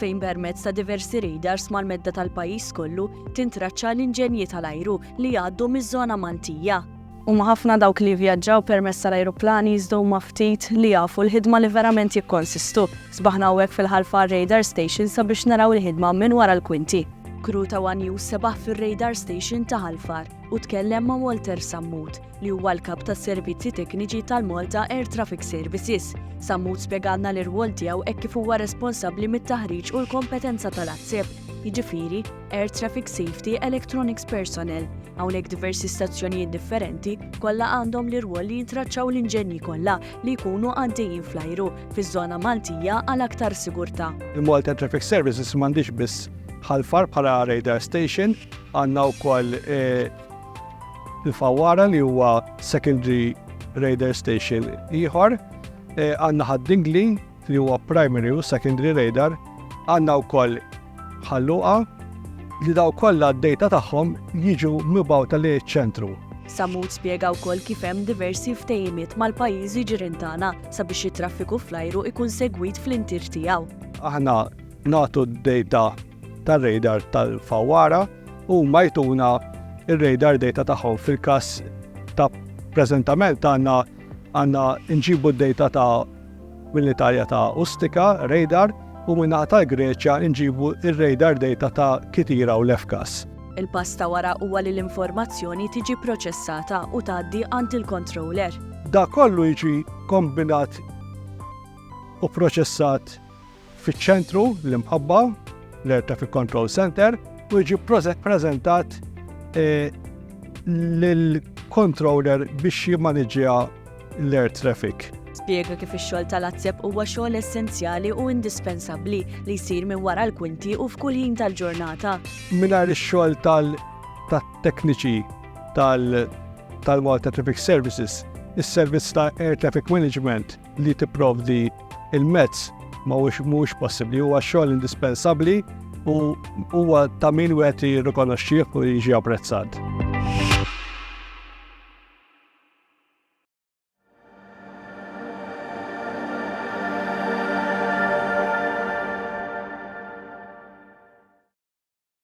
fejn permezz ta' diversi radars mal-medda tal-pajjiż kollu tintraċċa l-inġenji tal-ajru li jgħaddu miż-żona Maltija. Huma ħafna dawk li jivvjaġġaw permezz tal-ajruplani iżda huma ftit li jafu l-ħidma li verament jikkonsistu. Sbaħna hawnhekk fil-Ħalfa għar-radar station sabiex naraw il-ħidma minn wara l-kwinti. Crew ta' one News sebaħ fir-radar station ta' Ħalfar u tkellem ma' Walter Sammut, li huwa l-Kap tas-Servizzi Tekniċi tal-Malta Air Traffic Services. Sammut spjegalna l-irwol tiegħu hekk kif huwa responsabbli mit-taħriġ u l-kompetenza tal-ATSEP, jiġifieri Air Traffic Safety Electronics Personnel. Hawnhekk diversi stazzjonijiet differenti kollha għandhom l-irwol li jintraċċaw l-inġenji kollha li jkunu għaddejjin fl-ajru fiż-żona Maltija għal aktar sigurtà. Il-Malta Air Traffic Services m'għandhiex biss Ħal Far bħala radar station, għandna wkoll eh, Il-Fawwara li huwa secondary radar station ieħor, eh, għandna ħad-Dingli li huwa primary u secondary radar, għandna wkoll ħalluqa li daw kollha d-dejta tagħhom jiġu mibgħuta li ċentru. Samut spjega wkoll kif hemm diversi ftehimiet mal-pajjiżi ġirien tagħna sabiex it-traffiku fl-ajru ikun segwit fl-intir tiegħu. Aħna nagħtu d-dejta tar-radar tal-fawwara u huma jtuna r-radar data tagħhom fil-każ ta' preżentament għandna għandna nġibu d-data ta' mill-Italja ta' Ustika, radar, u min-naħa tal-Greċja nġibu r-radar data ta' Kythira u Lefkas. Il-pass ta' wara huwa li l-informazzjoni tiġi pproċessata u tgħaddi għand il-controller. Dak kollu jiġi kombinat u pproċessat Fiċ-ċentru, l-imħabba, l-Air Traffic Control Center, u jiġi preżentat eh, lill-controller biex jimmaniġġja l-air traffic. Spjega kif ix-xogħol tal-azzeb huwa xogħol essenzjali u indispensabbli li jsir minn wara l-kwinti u f'kull ħin tal-ġurnata. Mingħajr ix-xogħol tal-tekniċi tal-Malta Traffic Services, is-servizz ta' Air Traffic Management li tipprovdi il-mezz ma mhuwiex possibbli, huwa xogħol indispensabbli u huwa ta' min wieħed jirrikonoxxih u jiġi apprezzat.